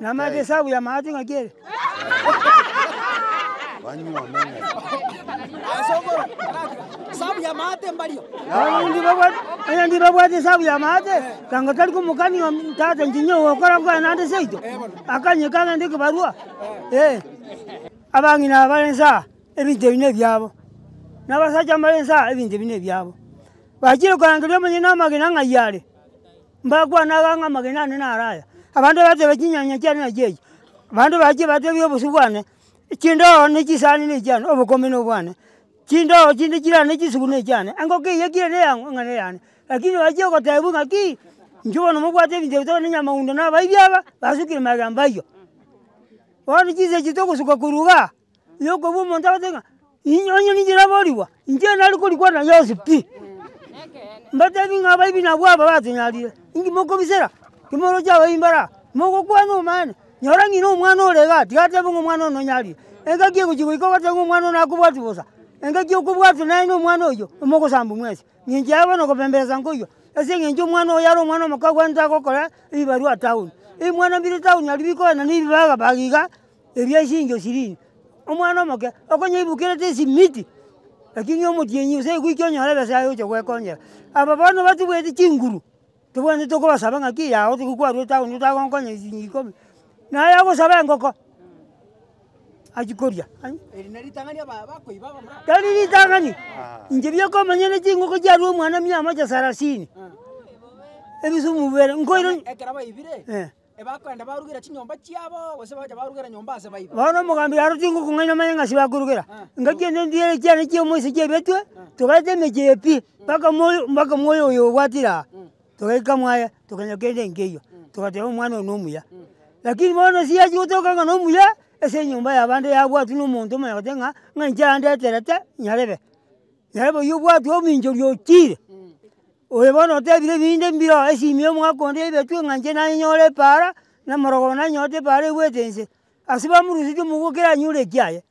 Namanyete esabu ya amache ng'aki ere. Abaminto babwate, onye tibabwati esabu ya amache, tanga tari komokani omi, tata inche ninyie ogokora buna naende seito, akanye kagende ekebarua, eh. Abang'ina aba bare inse aa, ebinto ebi nebiabo, na abasacha mbare inse aa, ebinto ebi nebiabo. Bachire korangeria omonyene na amagena ng'ai are. Mbakwane aya ng'a amagena ane naro aya, abanto bateba chinyanya chiane nachi echi, abanto bachie batebie obosio bwane, echindogo ne chisani ne echiane, obokombe na obwane, chindogo chinde chirane ne chisugu ne echiane, engoko eye ekire ne eyang'o ng'a ne eyane. Lakini bachie gotebwa ng'a ki, inche bono mobwate ebinto ebio tokonywa nyamaundo na abaibia aba, basukire magega mbaiywa. Bono chinsa echi togosuka korwa igaa. Yokobua omonto agote ng'a, inye onye ninche naborigwa, inche nare korigwa na Yeso pi. Mbatebi ng'a abaibi nabwo aba batunyarire, inki mokobisera? Timoroche abaibi mbare aa, mogokwana omonyene, nyora ng'ina omwana ore igaa, tiga atebe ng'a omwana one onyarire. Engaki egochi goika ogoteba ng'a omwana one akobwati bosa, engaki okobwatwa nere na omwana oyio, omogosamba mwensi. Ng'encho yabo bono gobemberesa nkoyio, ase eng'encho omwana oyo yare omwana omoke akwanete agokora ebibarua town. Ebimwana mbire town aria bikogenda na ebibaga baga iga, Eria chincho chiria, omwana omoke okonya oibukerete esimiti, lakini omotienyi gose egoika onyore ebesa yaye oche goekonyera. Aba bono batobwetie chinguru, tobwenerete tokobasaba ng'aki yao otogiwe kwarwa etaoni otagonkonya ne chinyinyi ikomi, naye agosaba engoko, achie koria ai. Eri neritang'ani aba abakoi baba murare. Tari ritang'ani, inche biokomanya ne chingoko chiarwa omwana mia amache sarasini, ebisumu bibere nkoira. Ekero baibire. Ebakogenda barugera chinyomba chiabo, gose bagocha barugera nyomba ase baibo. Bono omogambi aro tingokong'aina manye ng'asi bakorugera, engaki ende ndiere chiane chia omoisa chiabetwe, togaeta emechie eye pi, mpaka moyo mpaka moyo oyo obwatire aa, togaika mwaye tokanya kende nkeiyo, togateba omwana oyo nomuya. Lakini bono ase yachia gotoka ng'a nomuya, ase enyomba yabande yabwatwa na omonto omonyene goteba ng'a, ng'a inche yandeterete nyarebe, nyarebe oywo obwatwe ominchoria ochire. Oyo bono otebire ebinde mbireo, Esimie omwaka onde ebetwe ng'a inche nanyore epaara, na omorogo one nanyorete epaara egwete inse. Ase bamorusetie omobua ekero anyore ekiaye,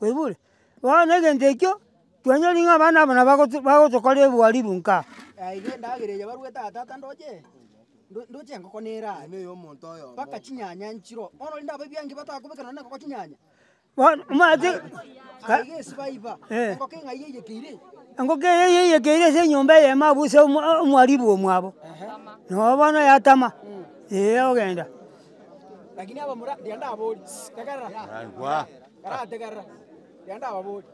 oigure? Bono na egento ekio, twanyori ng'a abana aba nabo bagoto bagotokorera ebwariru nkaa. Naiga endagera eye barue tata tata ndoche, ndo ndoche engoko neraare, mpaka chinyanya nchiroo, bono rende abaibia inki batakobeka nonye na engoko chinyanya, engoko eye yeyekeire ase enyomba eyemo abwo ase omwa- omwaribu omwabo, noe bono yatama, eeh ogenda.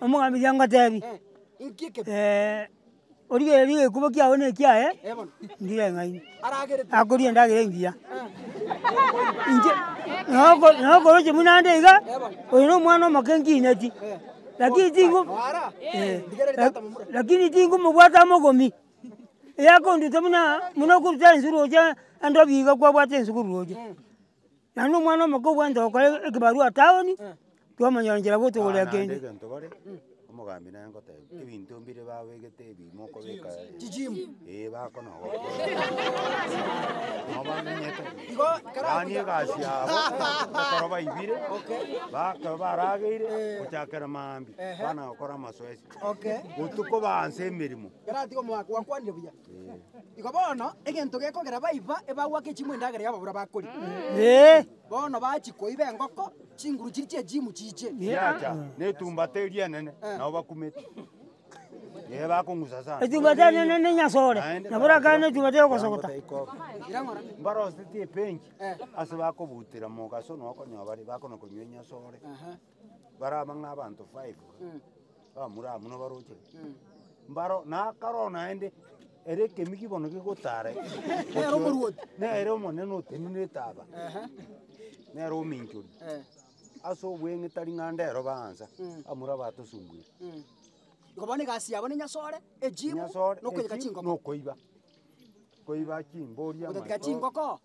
Omogambia oria ngotebi, origa erio egekuba kiago na ekiaye, ndire eng'aini, akoria endagera engiya, inche noko nokoroche buna ande iga, oyo na omwana omoke nkineti, lakini tingu lakini tingumobwata mogomi, eyakonduta buna buna okoruta enswe roche ande obiga kwabwate enswe korwa roche. Naende omwana omoke obwate gokora ekebarua taoni, twamonyora nchera gotogorera kende. Naende egento bare, omogambi nere ngoteba, ebinto mbire babegete ebi mokobeka eh bakona nabo bamenyete yaani egasi yabo ekero baibire bakaba barageire gochakera maambia bana gokora amasoesi, botuko baanse emeremo. Igo bono egento gekogera baiba ebagwa ake chimwe endagera y'ababura bakoria. Bono bachia koiba engoko, chinguru chiria chi'echimu chiche. Chiacha netumbata eria enene, nabo bakumete. Ee, bakong'usa sana. Etumbata enene ne enyasore, Naende nabo orakane ne etumbata ya ogosogota. Irang'ora. Mbaroseti epenki, ase bakobutera mogaso nokonywa bare bakona konywa enyasore. baraba ng'a abanto five bamura amo nabarochere, mbaro nakaroo naende ere ekemi kibono gigotare Nere omorwoti. nere omonene otenenete etaba, nere ominchori ase obweng'ita ring'anda ero baansa bamura batosubwire. Igo bono egasi yabo nenyasore, ejimu, Nyasore, nokoyeka echi, chingoko. nokoiba koiba chimbori Gotetika amaiso, chingoko.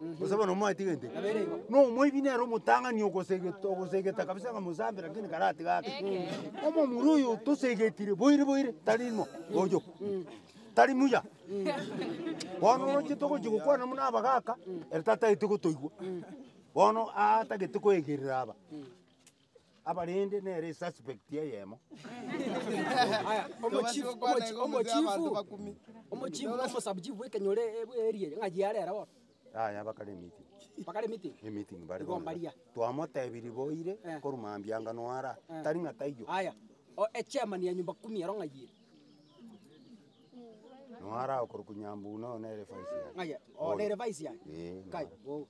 Gose bono mwatiga intwe, nomoibi nere omotang'ani ogosegete ogosegete kabisa ng'a mosambe lakini karatiga ake. Omomura oyo tosegetire boiri boiri tari mo oyo, tari muya. Bono oroche togochi gokwana buna abagaka, ere tatagete gotoigwa. Bono atagete koegerera aba. abarende nere esuspect eyemo. Yaya bakare emeeting, emeeting bare bonde. Twamotebirie boire korwa mambia anga noara, tari ng'a taiyo. Noara okorokwa Nyambura noyo nere vice yaye. Bono. Ee, noyo.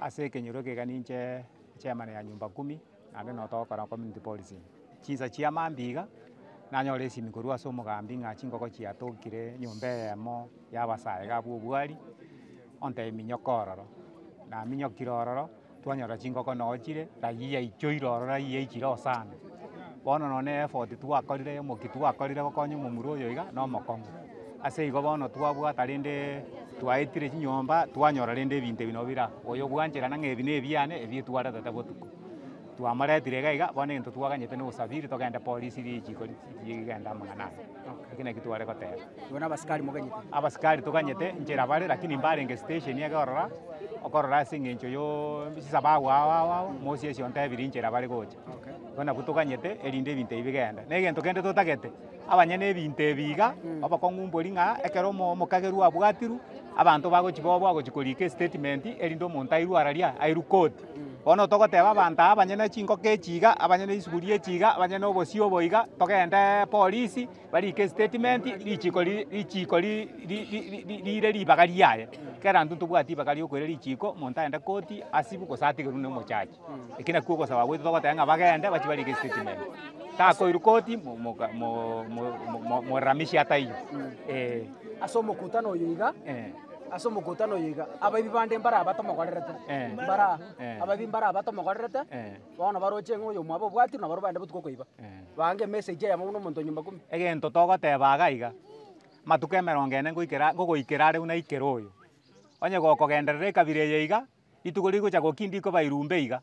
Ase ekenyoro eke iga ninche chairman ya nyumba kumi naende noo togokora community policing. Chinsa chia maambia iga, nanyora esimi korwa ase omogambi ng'a chingoko chiatokire nyomba eyemo ya abasae iga abwo obwari, onte minyoka ororo. Naminyokire ororo, twanyora chingoko noo chire, rayia yaichoire ororo rayia yaichire osana. Bono nonye ne effort twakorire, omokia twakorire gokonya omomura oyo iga, na omokong'u. Ase igo bono twabwata rende twaetire chinyomba, twanyora rende ebinto ebi nabo bire aa. Oyo obwanchera nang'a ebi nebiane ebi etwaretete botuko. Twamaretire iga iga, bono egento twaganyete na obosafiri togende polisi ri richiiko ri rigende amang'ana aya. Ekio nakio tware goteba. Igo na abasikari moganyete? Abasikari toganyete nchera bare, rakini mbarenge stesheni iga ororo, okorora ase eng'encho yoooo chisaba agwo ao ao ao, mosio esio ontebiri nchera bare gocha. Igo nabwo toganyete erinde ebinto ebi bigende. Na egento kende totagete. Abanyene ebinto ebi iga obokong'u mbori ng'a ekero omokagerwa abwatirwe, abanto bagochia bobe ogochia korika estatement erinde omonto airwe ara ria, airwe koti. Bono togoteba abanto aba abanyene chingoko echi iga, abanyene isuguri echi iga, abanyene obosio obo iga, togende polisi barike estatement richiiko ri richiiko ri ri ri ri riire ribaga riaye. Kera intwe ntobwati ribaga riokoira richiiko, omonto aende koti, asibwe gose atigerwe nomochache. Eki nakio ogosaba gwaito togoteba ng'a bagende bachie barike statement. Takoirwa koti mo- moka- mo- mo- mo- mo- moramisie ataiyo. Ee. Ase omokutano oyo iga, Eh. ase omokutano oyo iga, abaibi bande mbaraba tomokorerete, Eh. mbaraa, Eh. abaibi mbaraba tomokorerete, Eh. bono baroche ng'a oyo omwabo obwati naboro baende botuko koiba. Eh. Baange emessage eyemo buna omonto o nyomba kumi. Egento togoteba iga iga, amatuko emerongo ene ngoikera ngogoikera are buna aikere oyo, onye gokogenderera ekabira eye iga, Rituko rigocha gokia ndikoba irumbe iga,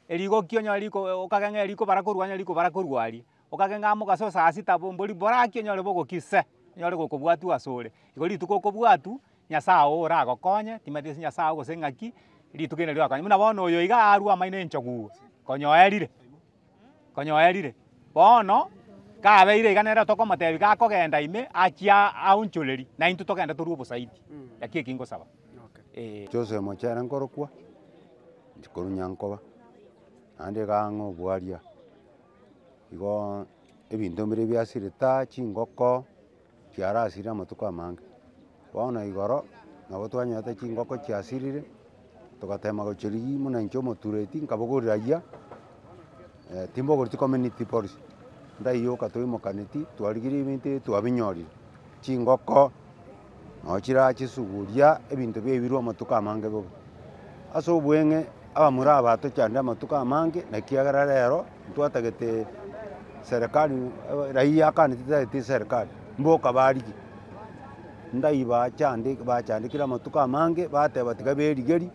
erigokia onyore riko okagera ng'a rikobara korwa aa rikobara korwa aria, okagera ng'a mogaso o saa sita bo mbori bore aki onyore bogokia se, onyore gokobwatwa asore. Igo rituko okobwatwa, Nyasaye oo oragokonye, timanyeti ase Nyasaye oo gose ng'aki, rituko eri nari rigokonye. Buna bono oyo iga arwa amaino enchogu iga, konya oerire. konya oerire. Bono kabeire iga nere tokomotebi gakogenda ime achie aonchorerie na intwe togende torue obosaidi. Naki eki ngosaba. Ee. Joseph Mochere nkorokwa, inche korwa Nyankoba, naende iga ang'e obwaria, igoo ebinto mbire biasire taa chingoko. Chiarasire amatuko amange, bono igoro nabo twanyorete chingoko chiasirire, togatema gochia rigiya buna inche omotureti nkabogorera agiya, timbogoretie community boris, ndaiyoka toimokanetie twarigirie ebinto ebi twabinyorire, chingoko noo chira chisuguria ebinto biaibirwe amatuko amange bobe. Ase obweng'e abamura aba tochanda amatuko amange na ekiagera rero. Ntwatagete serikali raia akande titagete serikali mboka barigie ndai bachande bachandekire amatuko amange bateba tiga berigeri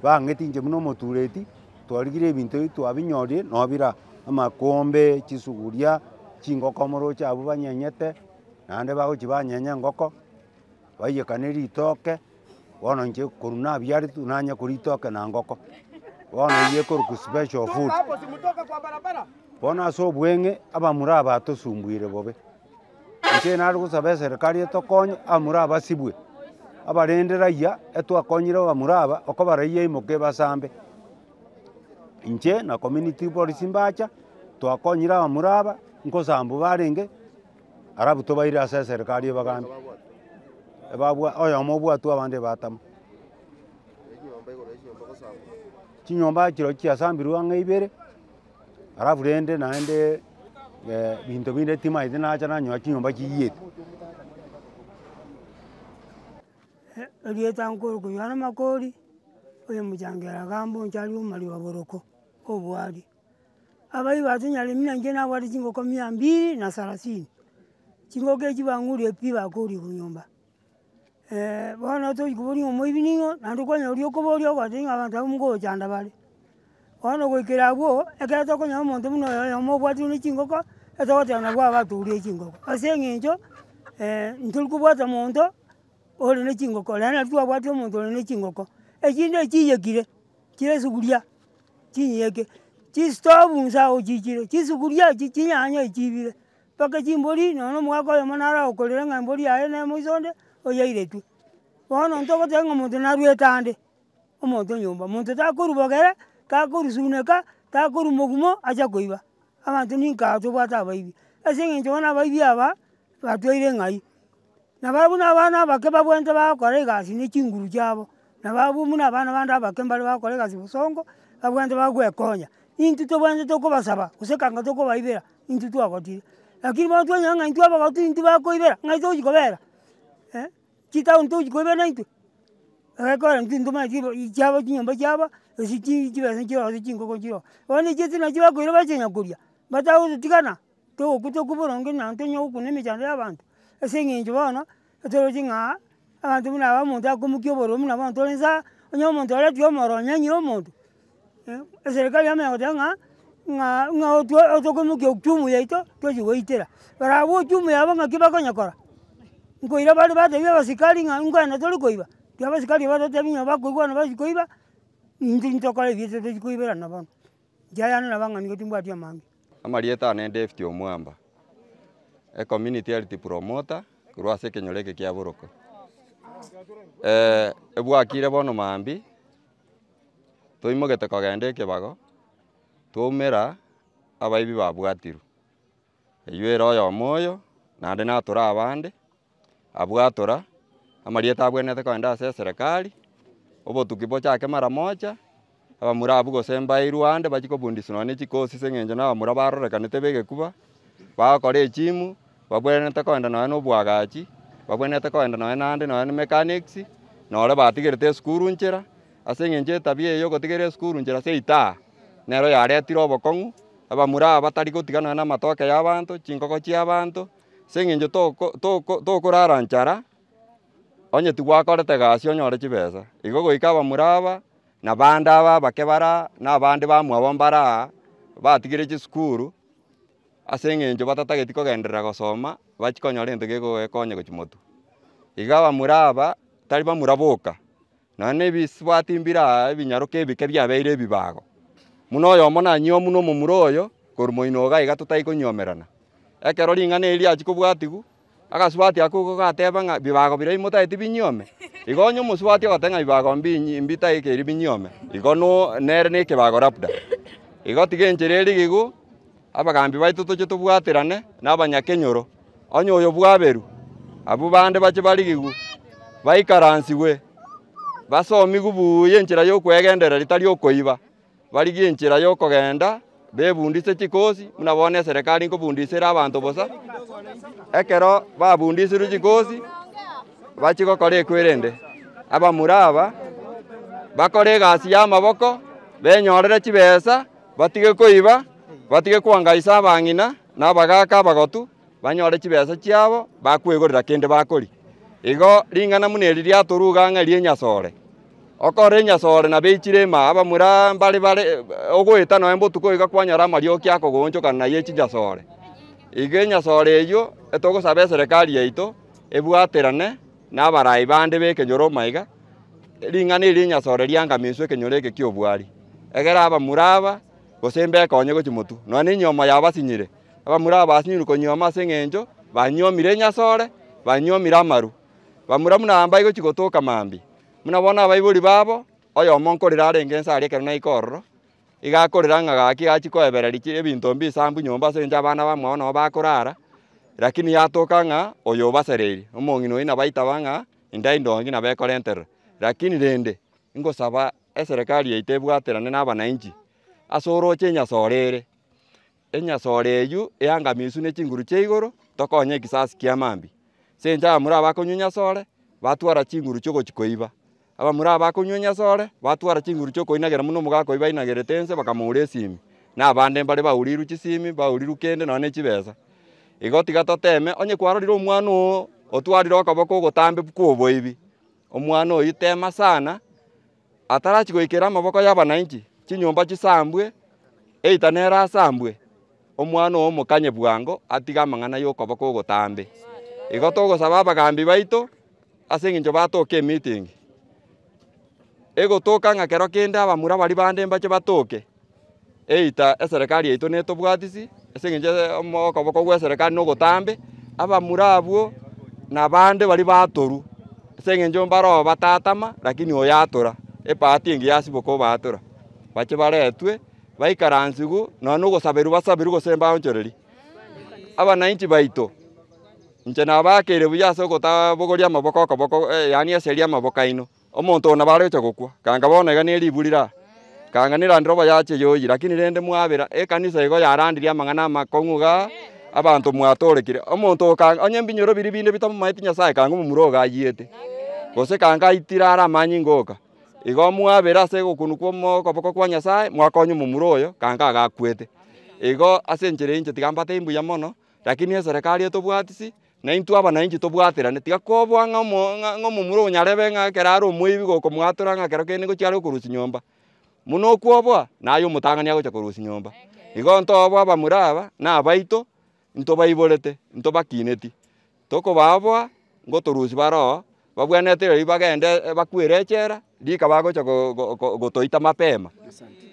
bang'eti inche buna omotureti twarigire ebinto ebi twabinyorire no bire aa amakombe chisuguria chingoko moroche abwo banyenyete naende bagochi banyenya engoko baiyekane ritoke. bono inche korwa nabiaretwe nanye koria itoke na ngoko, bono eyio ekorokwa special food, bono ase obweng'e abamura aba atosumbwire bobe, inche nare gosaba eserekari etokonye abamura aba basibwe, abarende raiya etwakonyire abamura aba okobara eyia imoke ebasambe, inche na community boris mbacha twakonyire abamura aba, nkosambu barenge. Arabuto baire ase eserekari ebagambe, ebabwa oyomo obwatwe abande ebatama. Chinyomba chirochio chiasambirwe ang'e ibere, alafu rende naende binto binde timaeti nacha nanyoa chinyomba chiyiete. Erieta nkoro koywana makori, oyomochango eragambe oncharie omorioboroko, obwari. Abaigo atonyare muna inche nabwate chingoko mia mbiri na sarasini, chingoko echio bang'urie pi bakooria korwa nyomba. bono tochi koboria ng'a omoibi ning'o, naende kwanyora oria okoboria ogoteba ng'a abanto abwo nkogochanda bare. Bono goikera agwo, ekero tokonyora omonto buna oyo oyomo obwate buna chingoko, etogoteba nabwo aba atooria chingoko. Ase eng'encho ntori kobwata monto ore ne chingoko, rero nari twabwati omonto ore ne chingoko. Echinde echiiyekire, chire esuguria. Chinyiyeki, chistovu inse agwo chichire, chisuguria echi, chinyanya echi chibire, mpaka chimbori nonya na omogaka oyomo naro agokorera ng'a embori yaye nemo iso onde, oyairetwe. Bono intwe ogoteba ng'a omonto narwete ande, omonto o nyomba, omonto takorubogera, takorusuneka, takorwa mogumo ache koiba, abanto ninka tobwate abaibi, ase eng'encho bono abaibi aba, batweire ng'ai. Na barabwo nabana abake babwenerete bagokora egasi ne chinguru chiabo, na barabwo buna abana bande abake mbare bagokora egasi bosongo, babwenerete bagokwekonya. Intwe tobwenerete tokobasaba gose ekanga tokobaibera, intwe twagotire. Lakini bono twanyora ng'a intwe abagoti intwe bakoibera, ng'ai tochi kobera? chitaoni tochi koibera naintwe? Egekogera intwe ntomanye chibo chiabo chinyomba chiabo, gose chi chibesa chiroo gose chingoko chiroo. Bono echiato nachibakoira bachianyakoria, batagototigana. Togokwa tokwe boronge na ntonyare gokwa na emechando ya abanto, ase eng'encho bono, etoroche ng'a abanto buna aba omonto akomokia obororo buna bono torense aa, onye omonto oretiyo omoro onyanyire omonto, eserikari yamo egoteba ng'a ng'a ng'a otwe otokomokia uchumi yaito, tochi goitera. Barabwo uchumi yabo ng'aki bakonyekora, nkoira bare batebi abasikari ng'a nkwenda tore koiba, ki abasikari baria ototebi ng'a bakoigwana bachia koiba, intwe intokore ebiato tochi koiberana bono. Inche ayane nabang'ani go timbwati amang'e. Amarieta aane David Omwamba, e community health promoter korwa ase ekenyoro eke kia Boroko. Ebwakire bono maambia, toimogete kogenda ekebago, twaumera abaibi babwatirwe. Eyio ere oyomo oyo, naende natore abande, abwo atora, amarieta abwenerete kogenda ase eserekari, obotuki bochake mara mocha, abamura abwo gose mbairwe ande bachie kobundiswa nonya ne chikosi ase eng'encho na abamura barorekanete b'egekuba, bagokora echimu, babwenerete kogenda nonya na obwagachi, babwenerete kogenda nonya na ande nonya na mechanics, nore batigerete esukuru nchera, ase eng'encho etabia eye yogotigera esukuru nchera seita aa, nero yaretire obokong'u. abamura aba batari gotiganana namatoke yabanto, chinkoko chiabanto, ase eng'encho toko toko tokorara nchara, onye tigwakorete egasi onyore chibesa. Igo goika abamura aba, na abande aba abake bare aa, na abande bamwabo mbare aa, batigire chisukuru, ase eng'encho batatageti kogenderera gosoma, bachikonyora egento gekobakonya gochia motwe. Iga abamura aba, tari bamura boka. nonya nebisibwati mbire aa ebinyaroke ebike biabeire ebibago, buna oyomo nanyioma buna omomura oyo korwa moino iga iga totai konyomerana. Ekero ring'ana eri riachia kobwatigwa, agasibwati ako igo gateba ng'a ebibago biria bimotaeti binyiome, igo onye omosibwati ogoteba ng'a ebibago mbinyi mbitaikeri binyiome, igo no nere nekebago labda. Igo tiga enchera erigigwa, Abagaambi baito toche tobwaterane nabanyakenyoro, onye oyo bwaberu, abwo bande bache barigigwe, baikaransigwe, basomigwe buya enchera y'okwegenderera etari okoiba, barigie enchera y'okogenda bebundise chikosi, buna bono eserekari nkobundisera abanto bosa. Ekero babundisirwe chikosi, bachie gokora ekwerende. Abamura aba bakore egasi y'amaboko, benyorere chibesa. Batige koiba, batige kwangaisa abang'ina na abagaaka abagotu, banyore chibesa chiabo bakwegorera kende bakoria. Igo ring'ana buna eri riatoruga ng'a ri'enyasore. Okorora enyasore nabeichire ime abamura mbare bare ogoeta nonya botuko iga kwanyora amarioki akogoonchokana naye chinyasore. Iga enyasore eyio etogosaba eserekari yaito ebwaterane. Nabaraai bande b'ekenyoro omaiga, ring'ana eri ri'enyasore riangamiswe ekenyoro eke ki'obwari. Egera abamura aba, gose mbekonye gochia motu, nonya nenyomo yao basinyire. Abamura aba basinyirwe konyuoma ase engencho banyuomire enyasore, banyuomire amaru. Bamura buna aba mbai gochia gotoka mambia, buna bono abaibori babo, oyomo nkorire arenge inse aria ekero naika ororo, igakorera ng'a gaki gachia koebereria chi ebinto mbisaambu nyomba ase eng'encho abana bamwabo nabo bakorara, rakini yatoka ng'a oyo obasereiri, omong'ina oyio nabo aitaba ng'a endai ndonge nabo ekorenterera. Rakini rende, ingosaba eserekari yaito ebwaterane na abanainchi, ase oroche enyasore ere, Enyasore eyio eangamisu ne chinguru chia igoro, tokonya ekisasi kia mambi. Sencha abamura abakonywa enyasore, batwara chinguru chi'ogochi koiba. Abamura abakonywa enyasore, batwara chinguru chi'okoinagera muna omogaka oyio bainagerete ense bakamoura esimi, na abande mbare baurirwe chisimi, baurirwe kende nonya ne chibesa. Igo tiga toteme, onye kwarorire omwana oo otwarire okoboko ogotambe kw'oboibi, omwana oyio tema sana. atarachie goikera amaboko y'abananchi chinyomba chisambwe, eita nere asambwe, omwana oo mokanye bwango atige amang'ana y'okoba kw'ogotambe. Igo togosaba abagaambi baito ase engencho batoke emeeting, egotoka ng'a kero kende abamura baria bande mbache batoke. either eserekari yaito netobwatisi ase eng'encho omo okoboko gw'eserekari na ogotambe, abamura abwo nabande baria batorwa ase eng'encho mbaro batatama lakini oyo atora, ebahati engiya yasiboka obaatora, bache baretwe baikaransigwe nonya na ogosaberwa basaberwe gose mbaonchoreri. Abanainchi baito, inche nabakeire buya ase ogotaa bogoria amaboko okoboko yaani eseri y'amaboko yaino. Omonto oo nabo aregocha gokwa, ganga bono iga ne ribu rira, ganga nerande robo yache yoyi. Lakini rende mwabera, ekanisa igo yarandirie amang'ana amakong'u iga abanto mwatoorekire. Omonto oo ganga onye mbinyoro biria binde bitamomaeti Nyasae, ganga omomura oo iga ayiete, gose ganga aitire are amanyinga oka. Igo mwabera ase ogokunu kw'okoboko kwa Nyasae, mwakonya omomura oyo, ganga iga akwete. Igo ase enchera eyio inche tiga mbatebia mbuya mono, lakini eserekari etobwatisi. Na intwe abanainchi tobwaterane, tiga kobua ng'a omomura onyarebe ng'a ekero are omoibi gokomwatora ng'a ekero kende nigo chiare okorusia nyomba, buna okwoboa naye omotang'ani agocha korusia nyomba. Igo ntoboe abamura aba na abaito ntobaiborete, ntobakineti, tokobaa boa ngotorusia bare oo babwenerete rirorio bagende bakwere echela, rika bagocha gotoita mapema,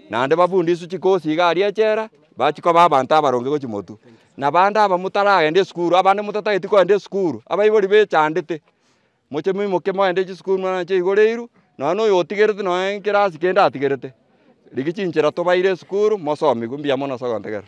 naende bafundiswe chikosi iga aria echela, bachie koba abanto abaronge gochia motwe. Na abande aba motaragenda esukuru, abande motatageti kogenda esukuru, abaibori bechandete, moche moimoke mogende chisukuru muna nache chigoreirwe, nonya na oyo otigerete nonya ekerasi kende atigerete, rigia chinchera tobaire esukuru, mosomigwe, mbuya mono ase ogontegerera.